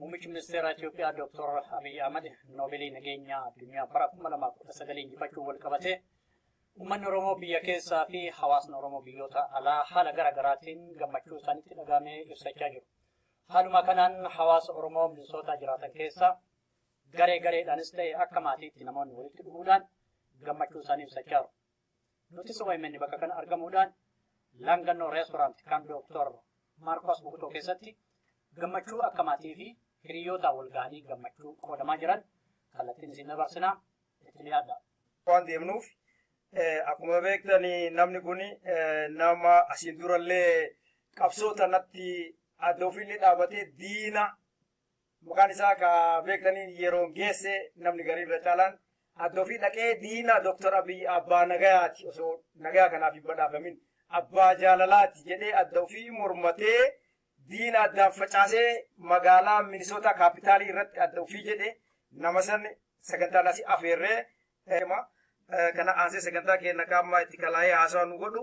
Muummichi Ministeeraa Itiyoophiyaa Dooktor Abiy Ahmad Noobeelii Nageenyaa Addunyaa bara 2019 injifachuun walqabatee Uummanni Oromoo biyya keessaa fi hawaasni Oromoo biyyoota alaa haala gara garaatiin gammachuu isaanitti dhaga'ame ibsachaa jiru. Haaluma kanaan hawaasa Oromoo Minisootaa jiraatan keessaa garee gareedhaanis ta'e akka maatiitti namoonni walitti dhufuudhaan gammachuu isaanii ibsachaa jiru. Nutis OMN bakka kana argamuudhaan Laangannoo Reestoraant kan Dooktor Maarkos Bukutoo keessatti gammachuu akka maatii fi hiriyyootaa wal gahanii gammachuu qoodamaa jiran kallattiin isin dabarsinaa itti dhiyaadha. Waan deemnuuf akkuma beektan namni kun nama asiin durallee qabsoo tanatti adda ofiillee dhaabatee diina Mukaan isaa ka beektaniin yeroon geesse namni garii irra caalaan adda ofii dhaqee diina Dr. Abiy abbaa nagayaati osoo nagayaa kanaaf hin badhaafamin abbaa jaalalaati jedhee adda ofii mormatee diina addaan facaasee magaalaa Minisootaa kaapitaalii irratti adda ofii jedhe nama san sagantaan asi afeerree kana aansee sagantaa keenya kaammaa itti kalaa'ee haasawaa nu godhu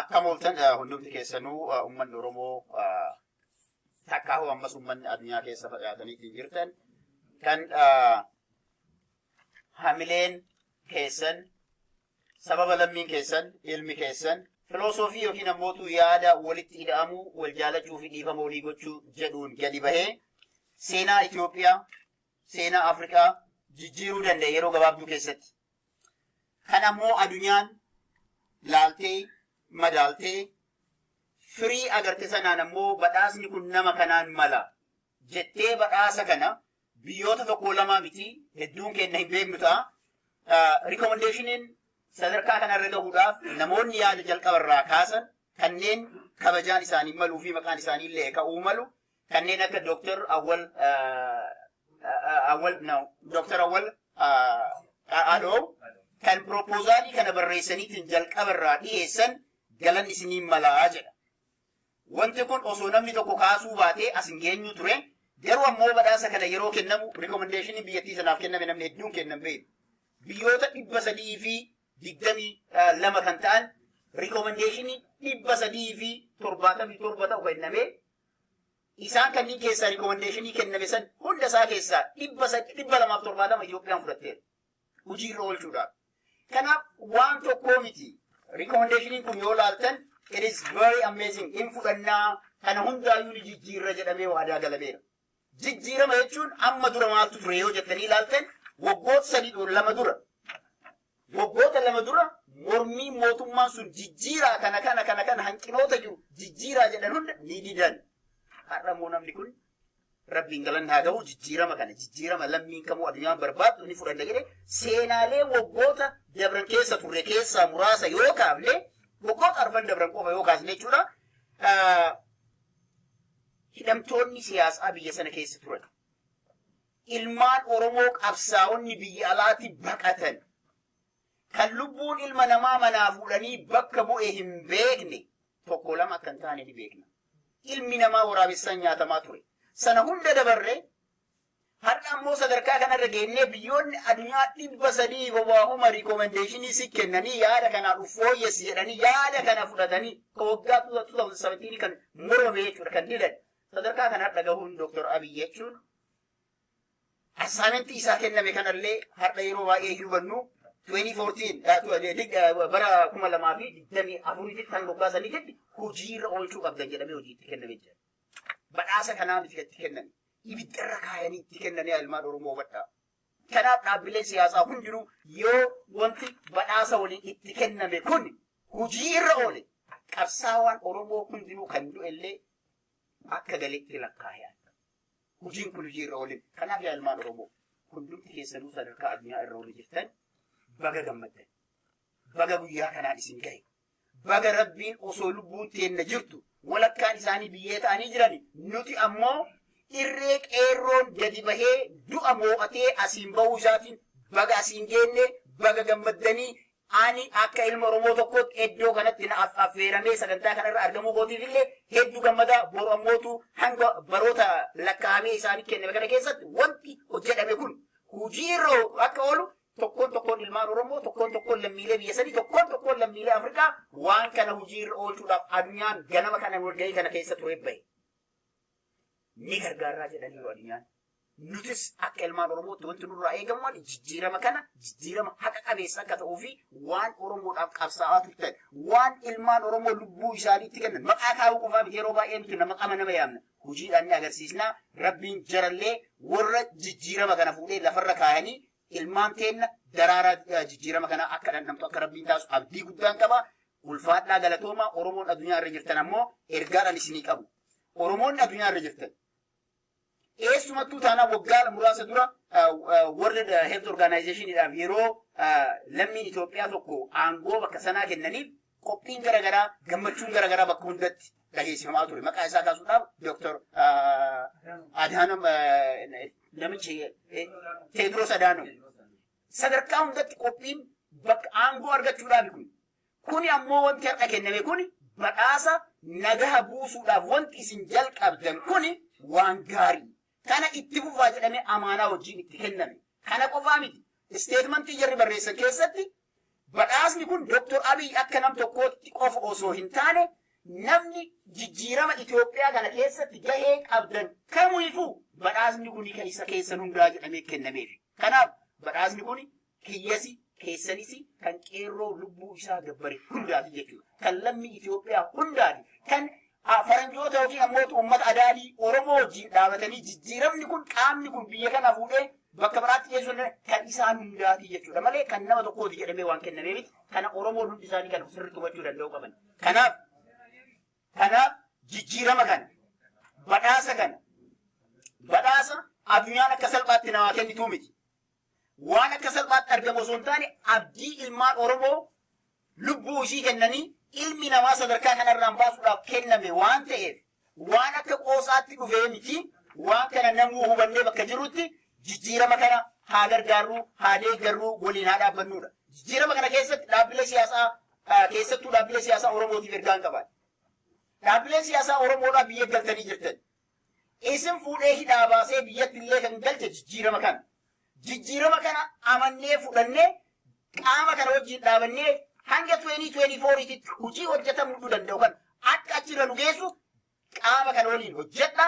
Akkam ooltan hundumti keessanuu uummanni Oromoo takkaa hoo ammas uummanni addunyaa keessa facaatanii ittiin jirtan kan hamileen keessan Sababa lammiin keessan, ilmi keessan, filoosofii ykn ammootu yaada walitti ida'amuu, wal jaalachuu fi dhiifama walii gochuu jedhuun gadi bahee seenaa Itoophiyaa, seenaa Afrikaa jijjiiruu danda'e yeroo gabaabduu keessatti. Kan ammoo adunyaan laaltee, madaaltee, firii agarte sanaan ammoo badhaasni kun nama kanaan mala jettee badhaasa kana biyyoota tokkoo lamaa miti hedduun keenna hin beeknu ta'a. Rikomendeeshiniin sadarkaa kanarra gahuudhaaf namoonni yaada jalqaba irraa kaasan kanneen kabajaan isaanii maluu fi maqaan isaanii illee ka'uu malu kanneen akka Dooktar Awwal Awwal no Dooktar Awwal Adoo kan piroopoozaalii kana barreessaniitiin jalqaba irraa dhiyeessan galan isiniin malaa jedha. Wanti kun osoo namni tokko kaasuu baatee as hin geenyuu ture, garuu ammoo badhaasa kana yeroo kennamu rikomendeeshiniin biyyattii sanaaf kenname namni hedduun kenna hin beeknu. Biyyoota 322 kan ta'an rikomendeeshinii 377 ta'u kenname. Isaan kanneen keessaa rikomendeeshinii kenname san hunda isaa keessaa 270 Itoophiyaan fudhatteerti. hojii irra oolchuudhaaf. Kanaaf waan tokkoo miti. Rikoomendeeshiniin kun yoo laaltan it is very amazing in fudhannaa kana hundaayyuu ni jijjiirra jedhamee waadaa galameera. Jijjiirama jechuun amma dura maaltu ture yoo jettanii ilaaltan waggoota sadii dura lama dura waggoota lama dura mormii mootummaan sun jijjiiraa kana kana kana kana hanqinoota jiru jijjiiraa jedhan hunda ni didan. Har'a immoo namni kun Rabbiin galanni haa ta'u jijjiirama kana jijjiirama lammiin kamuu addunyaan barbaaddu ni fudhanna jedhe seenaalee waggoota dabran keessa turre keessaa muraasa yoo kaafne waggoota arfan dabran qofa yoo kaasne jechuudha. Hidhamtoonni siyaasaa biyya sana keessa turan. Ilmaan Oromoo qabsaa'onni biyya alaatti baqatan. Kan lubbuun ilma namaa manaa fuudhanii bakka bu'e hin beekne. tokko lama akka hin taane ni beekna. Ilmi namaa waraabessaan nyaatamaa ture. Sana hunda dabarree har'a ammoo sadarkaa kanarra geennee biyyoonni addunyaa dhibba sadii hobaahuma rikoomendeeshinii si kennanii yaada kanaa dhuf fooyyessi jedhanii yaada kana fudhatanii ka waggaa 2017 kan morome jechuudha kan didan sadarkaa kana har'a gahuun Dr. Abiy jechuun Assignment isaa kenname kanallee har'a yeroo baay'ee hin hubannu 2014 bara 2024tti kan moggaasanii jedhi hojiirra oolchuu qabdan jedhamee hojii itti kenname jira. Badhaasa kanaa miti itti kenname. Ibiddarra kaayanii itti kennanii ilmaan Oromoo hubadhaa. Kanaaf dhaabbileen siyaasaa hundinuu yoo wanti badhaasa waliin itti kenname kun hojii irra oole qabsaawaan Oromoo hundinuu kan du'ellee akka galitti lakkaa'e. hojiin kun hojii irra oolin. Kanaaf yaa ilmaan Oromoo hundumti keessanuu sadarkaa addunyaa irra oolin jirtan baga gammaddan. Baga guyyaa kanaan isin gahe. Baga rabbiin osoo lubbuun teenna jirtu walakkaan isaanii biyyee ta'anii jirani. Nuti ammoo irree qeerroon gadi bahee du'a moo'atee asiin bahuu isaatiin baga asiin geenne baga gammaddanii Ani akka ilma Oromoo tokkootti eddoo kanatti na affeeramee sagantaa kana irra argamuu kootiif illee heddu gammada, boru ammootu hanga baroota lakkaa'amee isaaniif kenname kana keessatti wanti hojjadhame kun hujii irra akka oolu tokkoon tokkoon ilmaan Oromoo, tokkoon tokkoon lammiilee biyya sanii, tokkoon tokkoon lammiilee Afrikaa waan kana hujii irra oolchuudhaaf adunyaan ganama kanan walgahii kana keessa turee bahe. ni gargaarraa jedhaniiru addunyaan. Nutis akka ilmaan Oromootti wanti nurraa eegamu maali? Jijjiirama kana jijjiirama haqa qabeessa akka ta'uu fi waan Oromoodhaaf qabsaa'aa turtan, waan ilmaan Oromoo lubbuu isaaniitti kennan maqaa kaa'uu qofaa miti yeroo baay'ee nuti nama qama nama yaamna. Hojiidhaan ni agarsiisna. Rabbiin jarallee warra jijjiirama kana fuudhee lafarra kaayanii Ilmaan teenna daraaraa jijjiirama kanaa akka dhandhamtu akka Rabbiin taasisu abdii guddaan qaba. Ulfaadhaa galatoomaa Oromoon addunyaa irra jirtan ammoo ergaadhaan isinii qabu. Oromoonni addunyaa irra jirtan eessumattuu taanaan waggaa muraasa dura World Health Organizationidhaaf yeroo lammiin Itoophiyaa tokko aangoo bakka sanaa kennaniif Qophiin gara garaa, gammachuun gara garaa bakka hundatti dhageessifamaa ture. Maqaa isaa kaasuudhaaf Dooktar Adhaanam namichi Teediroos Adhaanam. Sadarkaa hundatti qophiin bakka aangoo argachuudhaaf kun. Kuni ammoo wanti har'a kenname kuni badhaasa nagaha buusuudhaaf wanti isin jalqabdan kuni waan gaarii. Kana itti fufaa jedhamee amaanaa wajjin itti kenname. Kana qofaa miti, isteetmantii jarri barreessan keessatti badhaasni kun Doktor Abiy akka nam tokkootti qofa osoo hin taane namni jijjiirama Itoophiyaa kana keessatti gahee qabdan kamuifuu badhaasni kun kan isa keessan hundaa jedhamee kennameefi. Kanaaf badhaasni kun Kiyyasi, keessanisi, kan qeerroo lubbuu isaa gabbare hundaati jechuudha. Kan lammii Itoophiyaa hundaati. Kan ah, faranjoota yookiin ammoo uummata adaadii Oromoo wajjin dhaabatanii jijjiiramni kun qaamni kun biyya kana fuudhee bakka biraatti geessuun kan isaan hundaati jechuudha malee kan nama tokkooti jedhamee waan kennamee miti. Kana Oromoon hundi isaanii kana sirriitti hubachuu danda'uu qaban. Kanaaf kanaaf jijjiirama kana badhaasa kana badhaasa addunyaan akka salphaatti namaa kennituu miti. waan akka salphaatti argamu osoo hin taane abdii ilmaan Oromoo lubbuu ishii kennanii ilmi namaa sadarkaa kanarraan baasuudhaaf kenname waan ta'eef waan akka qoosaatti dhufee miti waan kana namuu hubannee bakka jirrutti jijjiirama kana haa gargaarruu haa deeggarruu waliin haa dhaabbannuudha. Jijjiirama kana keessatti dhaabbilee siyaasaa ah, keessattuu dhaabbilee siyaasaa Oromootiif ergaan qaban. Dhaabbileen siyaasaa Oromoodhaa biyya galtanii jirtan. Isin fuudhee hidhaa baasee biyyatti illee kan galche jijjiirama kana. Jijjiirama kana amannee fudhannee qaama kana wajjin dhaabannee hanga 2024 titti hojii hojjetamuu danda'u kana akka achirra nu geessu qaama kana waliin hojjedha,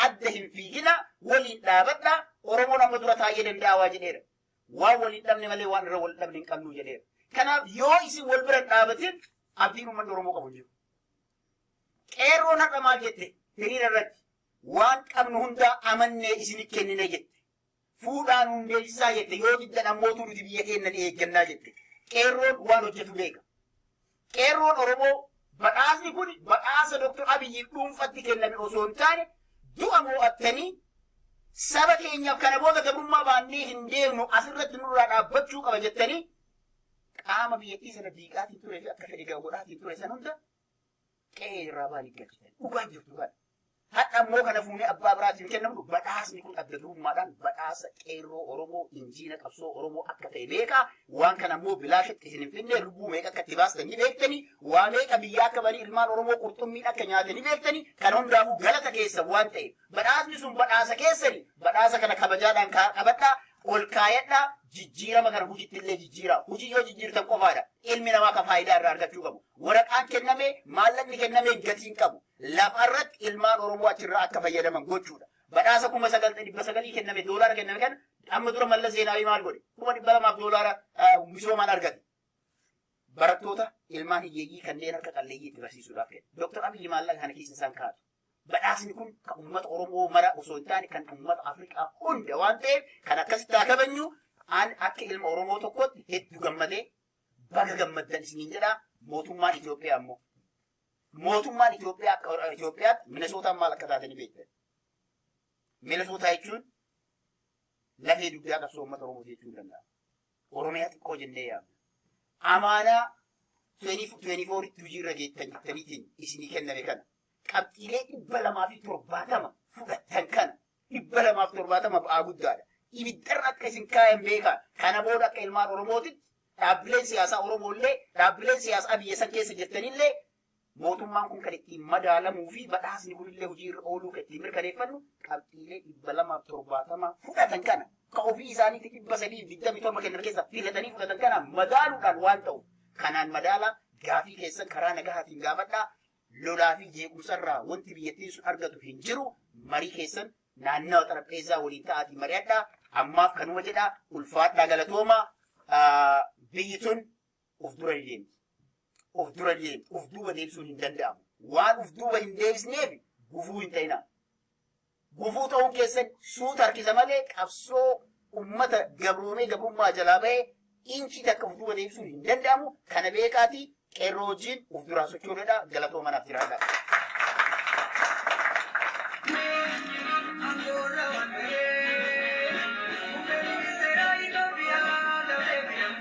adda hin fiigina, waliin dhaabadha, Oromoon amma dura taa'ee danda'a waa jedheera. Waan wal hin dhabne malee waan irra wal dhabne hin qabnu jedheera. Kanaaf yoo isin wal bira hin dhaabatin abdiin uummanni Oromoo qabu hin jiru. Qeerroon har'a maal jette? Hiriira irratti waan qabnu hundaa amannee isinit kennina jette. Fuudhaa nuun deebisaa jette. Yoo diddan ammootuu nuti biyya keenna ni eeggannaa jette. Qeerroon waan hojjetu beeka. Qeerroon Oromoo badhaasni kun badhaasa Dr. Abiyyiif dhuunfatti kenname osoo hin taane du'a moo'attanii saba keenyaaf kana booda gabrummaa baannee hin deemnu asirratti nurraa dhaabbachuu qaba jettanii qaama biyyattii sana diigaatiin turee fi akka fedhe godhaatiin ture san hunda qe'ee irraa baanii galchitan. Dhugaan jirtu kana. Hadha immoo kana fuunee abbaa biraatiin kennamu badhaasni kun adda durummaadhaan badhaasa qeerroo Oromoo injiina qabsoo Oromoo akka ta'e beekaa waan kana immoo bilaashitti isin hin finne lubbuu meeqa akka itti baastan ni beektanii waa meeqa biyyaa akka banii ilmaan Oromoo qurxummiin akka nyaatan ni beektanii kan hundaafuu galata keessan waan ta'eef Badhaasni sun badhaasa keessani, badhaasa kana kabajaadhaan kaa, qabadhaa, ol kaayadhaa, jijjiirama kana hujitti illee jijjiiraa. Hujii yoo jijjiirtan qofaadha ilmi namaa ka faayidaa irraa argachuu qabu. Waraqaan kennamee, maallaqni kennamee gatii hin qabu. Lafa irratti ilmaan Oromoo achi irraa akka fayyadaman gochuudha. Badhaasa kuma sagal, dhibba sagalii kenname, doolaara kenname kana amma dura Mallas Zeenaawii maal godhe? Kuma dhibba lamaaf doolaara ah, misoomaan argate. Barattoota ilmaan hiyyeeyyii kanneen harka qalleeyyii itti barsiisuudhaaf kenna. Dooktar Abiyyi maallaqa kana keessa isaan kaa'atu. Badhaasni kun kan uummata Oromoo mara osoo hin taane kan uummata Afrikaa hunda waan ta'eef kan akkasitti haa kabajnu an akka ilma Oromoo tokkotti hedduu gammadee baga gammaddan isiniin jedha mootummaan Itoophiyaa immoo mootummaan Itoophiyaa akka Itoophiyaatti Minesootaan maal akka taate ni beektan. Minesootaa jechuun lafee dugdaa qabsoo uummata Oromoo jechuu danda'a. Oromiyaa xiqqoo jennee yaamna. Amaanaa 2024tti hojiirra geettan jirtaniitiin isinii kenname kana qabxiilee 270 fudhattan kana 270 ba'aa guddaadha. Ibiddarra akka isin kaayan beekaa. Kana booda akka ilmaan Oromootitti dhaabbileen siyaasaa Oromoollee dhaabbileen siyaasaa biyya san keessa jirtanillee Mootummaan kun kan ittiin madaalamuu fi badhaasni kunillee hojii irra ooluu kan ittiin mirkaneeffannu qabxiilee 270 fudhatan kana ka ofii isaaniitti 327 kennan keessaa filatanii fudhatan kana madaaluudhaan waan ta'uuf kanaan madaalaa gaafii keessan karaa nagahaatiin gaafadhaa lolaa fi jeequmsarraa wanti biyyattiin sun argatu hin jiru marii keessan naannawa xarapheezzaa waliin ta'aatii mari'adhaa ammaaf kanuma jedhaa ulfaadhaa galatoomaa biyyi tun Of dura hin deemti. Of dura hin deemti. Of duuba deebisuun hin danda'amu. Waan of duuba hin deebisneef gufuu hin ta'inaa. Gufuu ta'uun keessan suuta harkisa malee qabsoo ummata gabroomee gabrummaa jalaa ba'ee inchii takka of duuba deebisuun hin danda'amu. Kana beekaatii qeerroo wajjin of duraa sochoodadha. Galatoo manaaf jiraadha. Angora Wandere, Mukeni Sera Ethiopia, Tabebia.